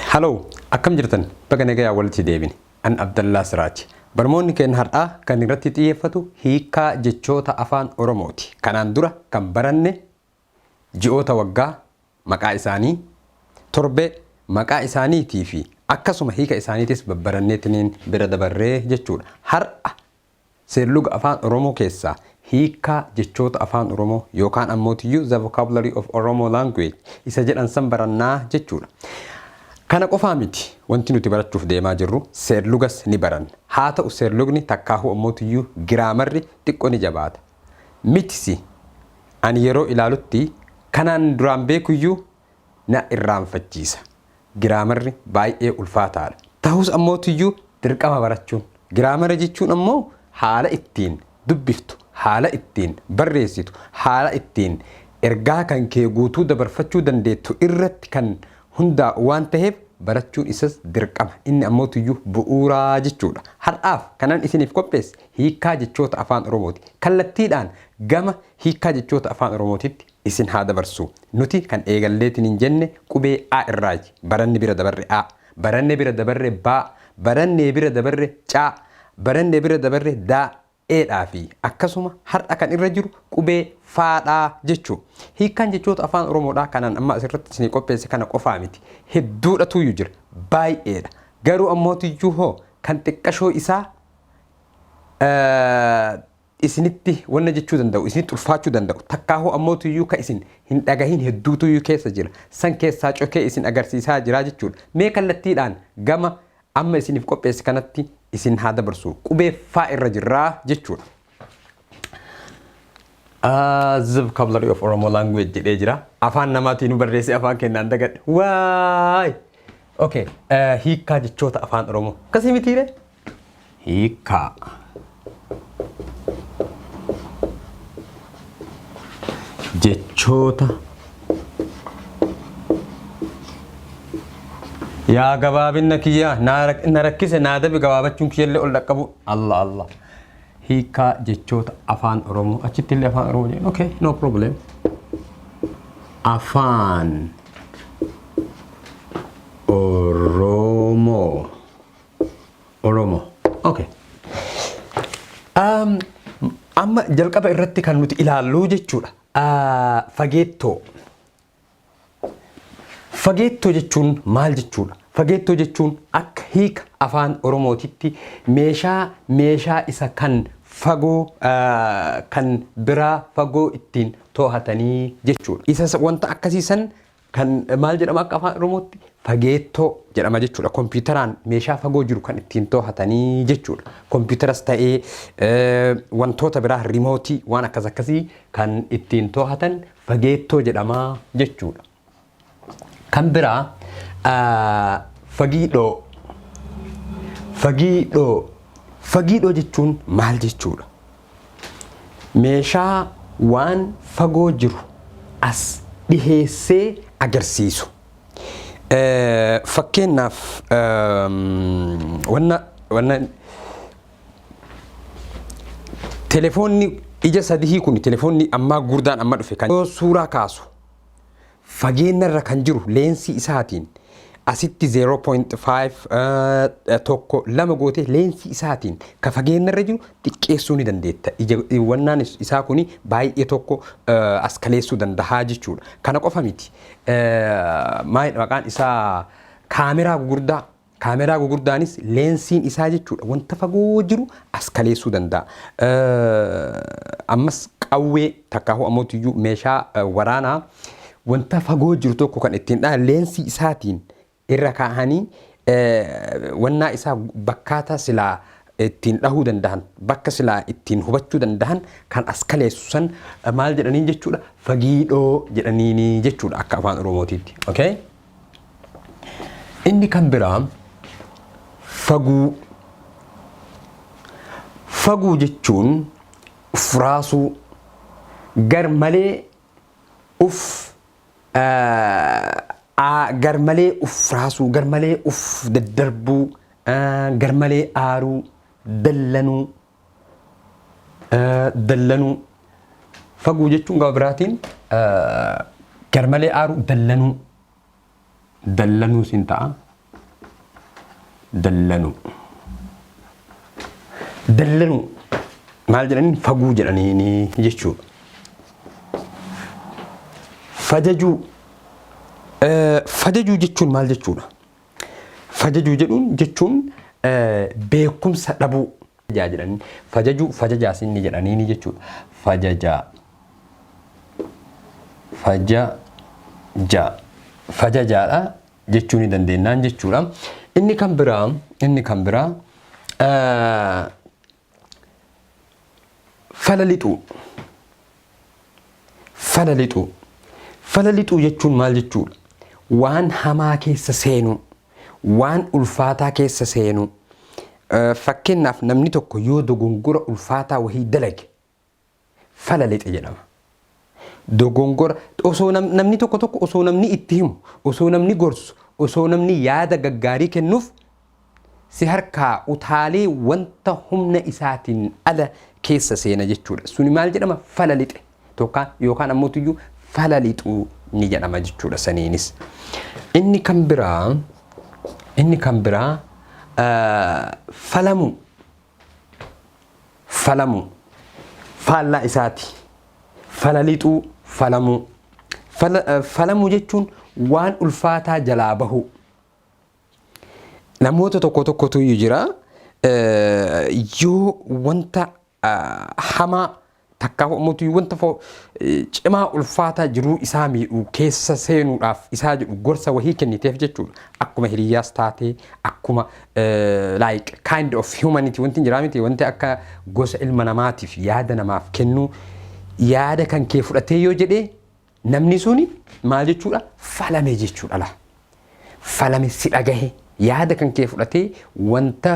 Haloo akkam jirtan baga nagayaan walitti deebine an Abdallaa Siraaj barmoonni keenna har'aa kan irratti xiyyeeffatu hiikkaa jechoota afaan oromooti kanaan dura kan baranne ji'oota waggaa maqaa isaanii torbee maqaa isaaniitii fi akkasuma hiika isaaniitis babbaranneetiniin bira dabarree jechuudha har'a Seerluga Afaan Oromoo keessaa hiikkaa jechoota Afaan Oromoo yookaan ammoo to use the vocabulary of Oromo language isa jedhan san barannaa jechuudha. Kana qofaa miti wanti nuti barachuuf deemaa jirru seerlugas ni baranna. Haa ta'u seerlugni takkaahuu ammoo tuyyuu giraamarri xiqqo ni jabaata. Mitisi! Ani yeroo ilaalutti kanaan duraan beekuyyuu na irraanfachiisa. Giraamarri baay'ee ulfaataadha. Tahus ammootiyyuu dirqama barachuun. Giraamara jechuun ammoo haala ittiin dubbiftu, haala ittiin barreessitu, haala ittiin ergaa kan kee guutuu dabarfachuu dandeettu irratti kan hundaa'u waan taheef barachuun isas dirqama. Inni ammootiyyuu bu'uura jechuudha. Har'aaf kanan isiniif qopheesse hiikkaa jechoota Afaan Oromooti. Kallattiidhaan gama hiikkaa jechoota Afaan Oromootitti isin haa dabarsu. Nuti kan eegalleetiin hin jenne qubee A irraayi. Baranne bira dabarre A. Baranne bira dabarre B. Baranne bira dabarre C. Baranne bira dabarre D. E dhaa fi akkasuma har'a kan irra jiru qubee F dha jechu. Hiikkaan jechoota Afaan Oromoodhaa kanaan amma asirratti isinii qopheesse kana qofaa miti. Hedduudha tuuyyu jira. Baay'eedha. Garuu ammootiyyuu hoo kan xiqqashoo isaa isinitti wanna jechuu danda'u, isinitti ulfaachuu danda'u, takkaahuu ammootuyyuu ka isin hin dhagahin hedduutuyyuu keessa jira. San keessaa cokee isin agarsiisaa jira jechuudha. Mee kallattiidhaan gama amma isiniif qopheesse kanatti isin haa dabarsu. Qubee faa irra jirra jechuudha. The vocabulary of Oromo language jedhee jira. Afaan namaatiin nu barreessee afaan kennaan dagadhe. Waay! Okay, hiikkaa jechoota afaan Oromoo. Akkasii mitiiree? Hiikkaa. Jechoota. Yaa gabaabinna kiyyaa naa rak- na rakkise naa dabe gabaabachuun kiyyallee ol dhaqqabu. Allah Allah. Hiikkaa jechoota afaan Oromoo achitti illee afaan Oromoo jedhan. Okay, no problem. Afaan Oromoo. Oromo. Okay. Um, amma jalqaba irratti kan nuti ilaallu jechuudha. Ah, fageettoo. Fageettoo jechuun maal jechuudha? Fageettoo jechuun akka hiika afaan Oromootitti meeshaa meeshaa isa kan fagoo ah, kan biraa fagoo ittiin to'atanii jechuudha. Isa wanta akkasii san Kan maal jedhama akka afaan oromootti fageettoo jedhama jechuudha. Kompiitaraan meeshaa fagoo jiru kan ittiin toohatanii jechuudha. Kompiitaras ta'ee wantoota biraa rimootii waan akkas akkasii kan ittiin toohatan fageettoo jedhama jechuudha. Kan biraa fagiidhoo fagiidhoo fagiidhoo jechuun maal jechuudha? Meeshaa waan fagoo jiru as dhiheessee agarsiisu. Fakkeenyaaf wanna wanna telefoonni ija sadihii kun telefoonni ammaa guurdaan amma dhufe kan yoo suuraa kaasu Fageenna irra kan jiru leensii isaatiin asitti 0.5 tokko lama gootee leensii isaatiin ka fageenna irra jiru xiqqeessuu ni dandeetta. Ija wannaan is- isaa kuni baay'ee tokko eh, as kaleessuu dandahaa jechuudha. Kana qofa miti. Eh, Maalidha maqaan isaa kaameraa gugurdaa Kaameraa gugurdaanis leensiin isaa jechuudha wanta fagoo jiru as kaleessuu danda'a. Ammas qawwee takkaahuu ammotiyyuu meeshaa waraanaa wanta fagoo jiru tokko kan ittiin dhahan leensii isaatiin irra kaa'anii wannaa isaa bakkaata silaa ittiin dhahuu dandahan bakka silaa ittiin hubachuu dandahan kan as kaleessu san maal jedhaniin jechuudha fagiidhoo jedhaniin jechuudha akka afaan oromootiitti. Okay? Inni kan biraa faguu. Faguu jechuun uf raasuu gar malee uf gar malee uf raasuu gar malee uf daddarbuu gar malee aaruu dallanuu dallanuu faguu jechuun gama biraatiin garmalee aaruu dallanuu dallanuu siin ta'a dallanuu dallanuu maal jedhaniin faguu jedhanii jechuudha. Fajajuu fajajuu jechuun maal jechuudha? Fajajuu jedhuun jechuun beekumsa dhabuu. Fajajaa jedhanii. Fajajuu fajajaas inni jedhaniini jechuudha. Fajajaa. Fajajaa. Fajajaadha jechuu ni dandeennaan jechuudha. Inni kan biraa inni kan biraa Fala lixuu Fala lixuu Fala lixuu jechuun maal jechuudha? Waan hamaa keessa seenuu, waan ulfaataa keessa seenuu. Fakkeenyaaf namni tokko yoo dogongora ulfaataa wahii dalage fala lixe jedhama. Dogongora osoo nam, namni tokko tokko osoo namni itti himu, osoo namni gorsu, osoo namni yaada gaggaarii kennuuf si harkaa utaalee wanta humna isaatiin ala keessa seena jechuudha. Suni maal jedhama? Fala lixe tokkaa yookaan ammoo tuyyuu fala lixuu ni jedhama jechuudha saniinis. Inni kan biraa inni kan biraa uh, falamuu falamuu faallaa isaati fala lixuu falamuu Fala- eh, falamuu jechuun waan ulfaataa jalaa bahuu namoota tokko tokkotu iyyuu jira eh, yoo wanta ah, hamaa Takkaahuu ammoo wanta fo- eh, cimaa ulfaataa jiruu isaa miidhu keessa seenuudhaaf isaa jedhu gorsa wahii kenniteef jechuudha. Akkuma hiriyyaas taatee akkuma eh, like kind of humanity wanti hin jiraa miti wanti akka gosa ilma namaatiif yaada namaaf kennuu yaada kan kee fudhatee yoo jedhee Namni suni maal jechuudha? Falame jechuudha laa. Falame si dhagahe yaada kan kee fudhatee wanta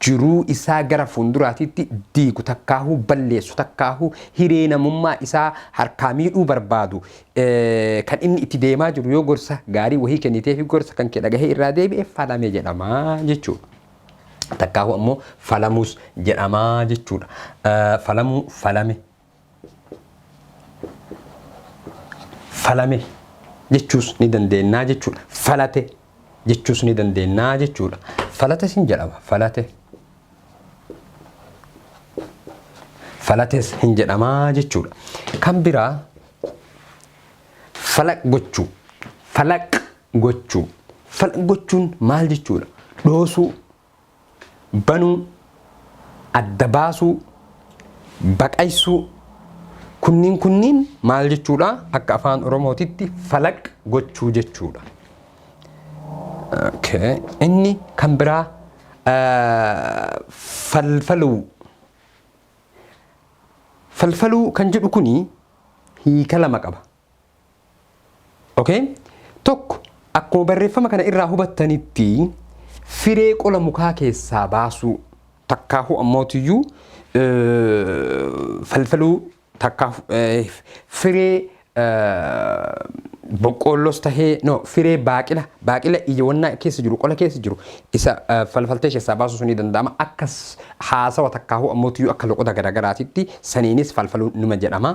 jiruu isaa gara fuulduraatiitti diigu takkaahuu balleessu takkaahuu hiree namummaa isaa harkaa miidhuu barbaadu kan inni itti deemaa jiru yoo gorsa gaarii wahii kennitee fi gorsa kan kee dhagahee irraa deebi'e falame jedhama jechuudha. Takkaahuu ammoo falamuus jedhama jechuudha. Falamuu falame falame jechuus ni dandeennaa jechuudha. Falate jechuus ni dandeennaa jechuudha. Falate sin jedhama. Falate. Falates hin jedhamaa jechuudha. Kan biraa falaq gochuu. Falaq gochuu. Falaq gochuun maal jechuudha? Dhoosuu banuu, adda baasuu, baqaysuu kunniin kunniin maal jechuudha? Akka afaan Oromootitti falaq gochuu jechuudha. Okay. Inni kan biraa ah, falfaluu. Falfaluu kan jedhu kuni hiika lama qaba. Okay? Tokko, akkuma barreeffama kana irraa hubattanitti firee qola mukaa keessaa baasuu takkaahuu ammootiyyuu falfaluu takkaa firee boqqoollos tahee no firee baaqila baaqila ija wannaa keessa jiru qola keessa jiru isa falfaltee keessaa baasuu sunii danda'ama akkas haasawa takkaahuu ammootiyyuu akka loqoda garaagaraatitti saniinis falfaluu numa jedhama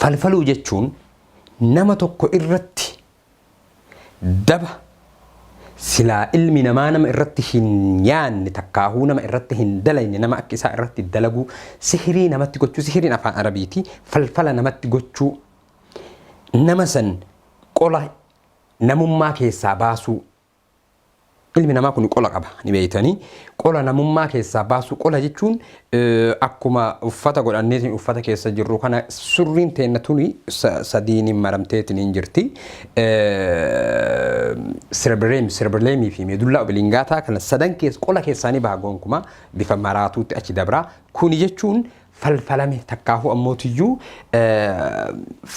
Falfaluu jechuun nama tokko irratti daba silaa ilmi namaa nama irratti hin yaanne takkaahuu nama irratti hin dalayne nama akka isaa irratti dalaguu sihirii namatti gochuu sihiriin afaan arabiiti falfala namatti gochuu nama san qola namummaa keessaa baasuu Ilmi namaa kun qola qaba ni beeytanii qola namummaa keessaa baasuu qola jechuun akkuma uffata godhanneetiin uffata keessa jirru kana surriin teenna tuni sadiin maramteetiin hin jirti sirbireem sirbireemii fi meedullaa obilingaataa kana sadan keessa qola keessaanii baha goonkuma bifa maraatuutti achi dabraa kuni jechuun falfalame takkaahuu ammootiyyuu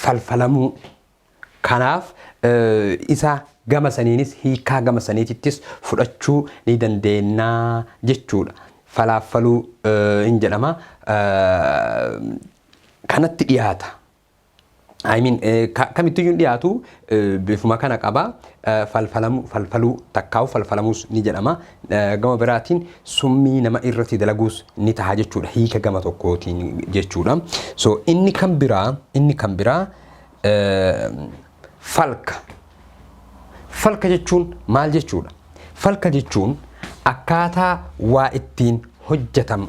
falfalamuu Kanaaf isa gama saniinis hiikkaa gama saniitittis fudhachuu ni dandeenna jechuudha. Falaafaluu hin jedhama. Kanatti dhiyaata. I mean kamittiyyuu hin dhiyaatu bifuma kana qaba. Falfalamu falfaluu takkaa'u falfalamuus ni jedhama. Gama biraatiin summii nama irratti dalaguus ni taha jechuudha. Hiika gama tokkootiin jechuudha. So inni kan biraa inni kan biraa falka. Falka jechuun maal jechuudha? Falka jechuun akkaataa waa ittiin hojjetan.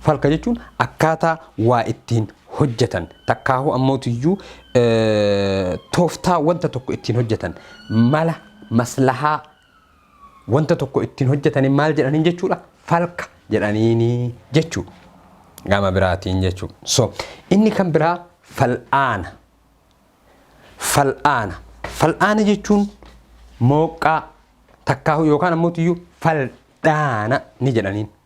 Falka jechuun akkaataa waa ittiin hojjetan takkaahuu ammootiyyuu tooftaa wanta tokko ittiin hojjetan mala maslahaa wanta tokko ittiin hojjetanii maal jedhaniin jechuudha falka jedhaniini jechuu gama biraatiin jechuu so inni kan biraa fal'aana fal'aana fal'aana jechuun mooqqaa takkaahu yookaan ammoo iyyuu fal'aana ni jedhaniin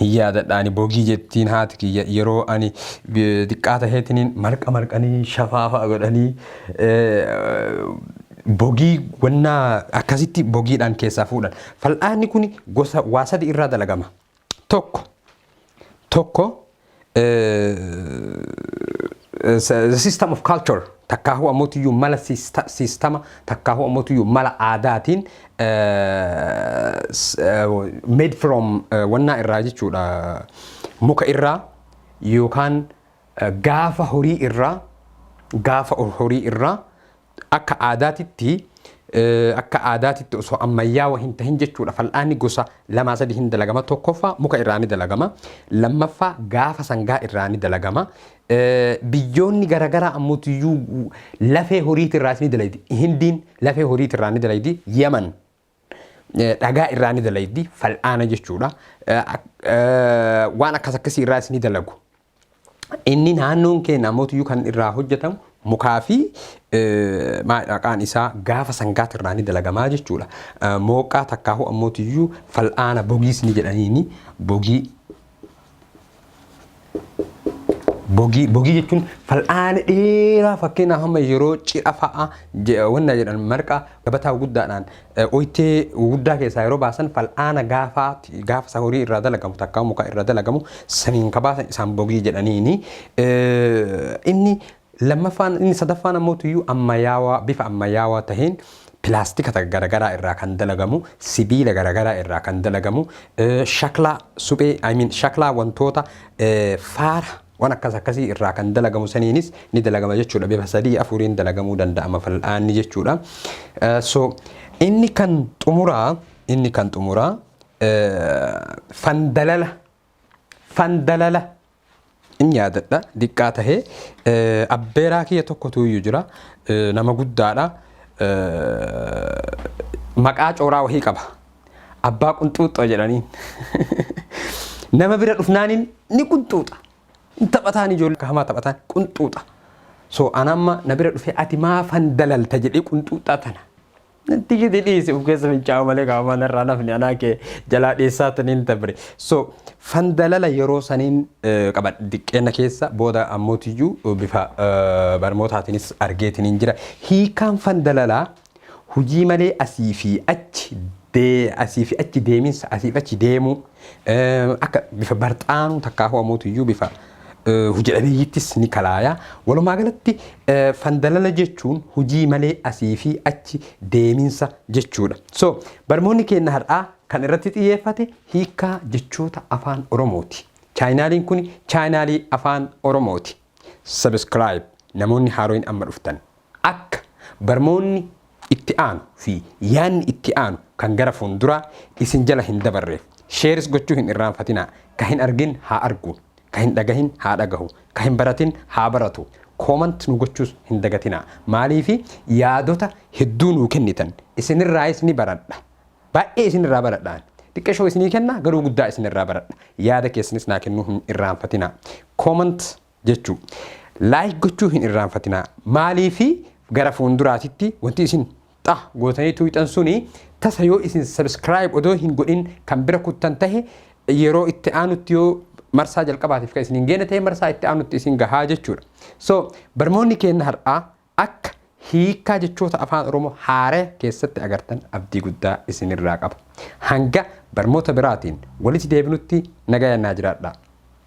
hin yaadadha ani bogii jettiin haati kiyya yeroo ani xiqqaa taheetiniin marqa marqanii shafaafa godhanii bogii wannaa akkasitti bogiidhaan keessaa fuudhan. Fal'aanni kun gosa waa sadi irraa dalagama. Tokko tokko the system of culture takkaahuu ammootiyyu mala siistama takkaahuu ammootiyyu mala aadaatiin made from wannaa irraa jechuudha muka irraa yookaan gaafa horii irraa gaafa horii irraa Akka aadaatitti akka aadaatitti osoo ammayyaawa hin tahin jechuudha fal'aanni gosa lamaa sadii hin dalagama tokkoffaa muka irraa ni dalagama lammaffaa gaafa sangaa irraa ni dalagama biyyoonni garagaraa ammotiyyuu lafee horiitirraas ni dalaydi hindiin lafee horiitirraa ni dalaydi yaman dhagaa irraa ni dalaydi fal'aana jechuudha. Waan akkas akkasii irraas ni dalagu. Inni naannoon keenya ammoo kan irraa hojjetamu mukaa fi maqaan isaa gaafa sangaati irraa ni dalagamaa jechuudha. Mooqqaa takkaahuu ammoo fal'aana bogiis ni jedhaniini bogii Bogii, bogii jechuun fal'aana dheeraa fakkeenyaaf amma yeroo cidha fa'a je- wanna jedhan marqa gabataa guddaadhaan eh, oytee guddaa keessaa yeroo baasan fal'aana gaafaa gaafa isa horii irraa dalagamu takka muka irraa dalagamu saniin ka baasan isaan bogii jedhaniini. Eh, Inni Lammaffaan inni sadaffaan ammoo tuyyuu ammayaawaa bifa ammayaawaa taheen pilaastika ta- garagaraa irraa kan dalagamu, sibiila garagaraa irraa kan dalagamu, eh, shaklaa suphee I mean shaklaa wantoota eh, faara waan akkas akkasii irraa kan dalagamu saniinis ni dalagama jechuudha. Bifa sadii afuriin dalagamuu danda'ama fal'aanni jechuudha. Eh, so inni kan xumuraa inni kan xumuraa eh, fandalala fandalala in yaadadha diqqaa tahee abbeeraa kiyya tokkotu iyyu jira nama guddaadha maqaa cooraa wahii qaba abbaa qunxuuxxoo jedhaniin nama bira dhufnaaniin ni qunxuuxa hin taphataan ijoollee hamaa taphataan qunxuuxa so anamma na bira dhufee ati maafan dalalta jedhee qunxuuxxaa tana Natti gidi dhiisi of keessa fincaa'u malee qaama mana irraa nafni anaa kee jalaa dhiissaa taniin tabre. So fandalala yeroo saniin eh, qaba diqqeenna keessa booda ammootiyyuu eh, bifa eh, barmootaatiinis argeetiniin jira. Hiikaan fandalalaa hujii malee asii fi achi dee asii fi achi deeminsa asii fi achi deemuu. Akka bifa barxaanuu takkaahuu amootiyyuu bifa hojidhabeeyyittis ni kalaaya. Walumaa galatti fandalala jechuun hojii malee asii fi achi deeminsa jechuudha. So barmoonni keenna har'aa kan irratti xiyyeeffate hiikkaa jechoota afaan Oromooti. Chaayinaaliin kun chaayinaalii afaan Oromooti. Subscribe namoonni haaroin amma dhuftan akka barmoonni itti aanu fi yaanni itti aanu kan gara fuunduraa isin jala hin dabarreef shares gochuu hin irraanfatinaa ka hin argin haa argu ka hin dhagahin haa dhagahu ka hin baratin haa baratu comment nu gochuus hin dagatinaa maaliifi yaadota hedduu nuu kennitan isinirraayis ni baradha Baay'ee isin irraa baradha ani. Xiqqashoo isinii kenna garuu guddaa isin irraa baradha. Yaada keessanis naa kennuu hin irraanfatinaa. Comment jechuu. Like gochuu hin irraanfatinaa. Maaliifi gara fuulduraatitti wanti isin xa gootanii tuuxan suni tasa yoo isin subscribe odoo hin godhin kan bira kuttan tahe yeroo itti aanutti yoo marsaa jalqabaatiif kan isin hin geenne ta'e marsaa itti aanutti isin gahaa jechuudha. So barmoonni keenna har'aa Akka hiikkaa jechoota Afaan Oromoo haaraya keessatti agartan abdii guddaa isinirraa qaba. Hanga barmoota biraatiin walitti deebinutti nagayaan naa jiraadhaa.